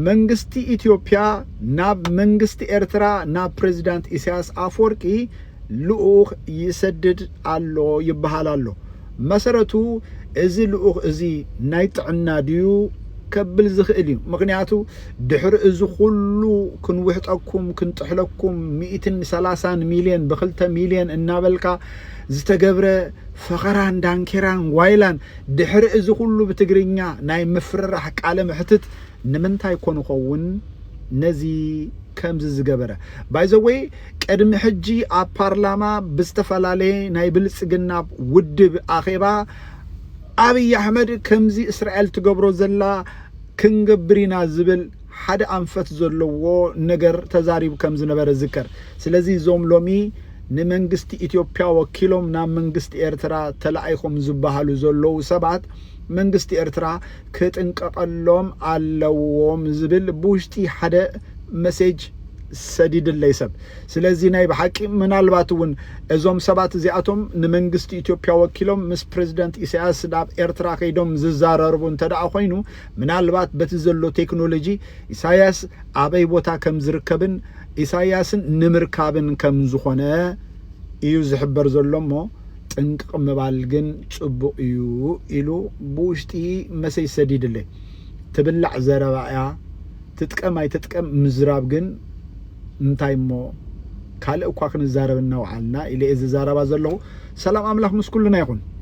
መንግስቲ ኢትዮጵያ ናብ መንግስቲ ኤርትራ ናብ ፕሬዚዳንት ኢሳያስ ኣፍወርቂ ልኡኽ ይሰድድ ኣሎ ይበሃል ኣሎ። መሰረቱ እዚ ልኡኽ እዚ ናይ ጥዕና ድዩ ከብል ዝኽእል እዩ። ምኽንያቱ ድሕሪ እዚ ኩሉ ክንውሕጠኩም ክንጥሕለኩም ሚእትን ሰላሳን ሚልዮን ብክልተ ሚልዮን እናበልካ ዝተገብረ ፈኸራን ዳንኬራን ጓይላን ድሕሪ እዚ ኩሉ ብትግርኛ ናይ ምፍርራሕ ቃለ መሕትት ንምንታይ ኮን ይኸውን ነዚ ከምዚ ዝገበረ ባይ ዘ ወይ ቅድሚ ሕጂ ኣብ ፓርላማ ብዝተፈላለየ ናይ ብልጽግና ውድብ ኣኼባ ኣብይ ኣሕመድ ከምዚ እስራኤል ትገብሮ ዘላ ክንገብር ኢና ዝብል ሓደ ኣንፈት ዘለዎ ነገር ተዛሪቡ ከም ዝነበረ ይዝከር። ስለዚ እዞም ሎሚ ንመንግስቲ ኢትዮጵያ ወኪሎም ናብ መንግስቲ ኤርትራ ተላኢኾም ዝበሃሉ ዘለዉ ሰባት መንግስቲ ኤርትራ ክጥንቀቐሎም ኣለዎም ዝብል ብውሽጢ ሓደ መሴጅ ሰዲድለይ ሰብ። ስለዚ ናይ ብሓቂ ምናልባት እውን እዞም ሰባት እዚኣቶም ንመንግስቲ ኢትዮጵያ ወኪሎም ምስ ፕረዚደንት ኢሳያስ ናብ ኤርትራ ከይዶም ዝዛራረቡ እንተድኣ ኮይኑ ምናልባት በቲ ዘሎ ቴክኖሎጂ ኢሳያስ ኣበይ ቦታ ከም ዝርከብን ኢሳያስን ንምርካብን ከም ዝኾነ እዩ ዝሕበር ዘሎ እሞ ጥንቅቕ ምባል ግን ጽቡቕ እዩ ኢሉ ብውሽጢ መሰይ ሰዲድለይ። ትብላዕ ዘረባ እያ ትጥቀም ኣይትጥቀም ምዝራብ ግን እንታይ እሞ ካልእ እኳ ክንዛረብ እናውዓልና ኢለ እየ ዝዛረባ ዘለኹ። ሰላም ኣምላኽ ምስ ኩልና ይኹን።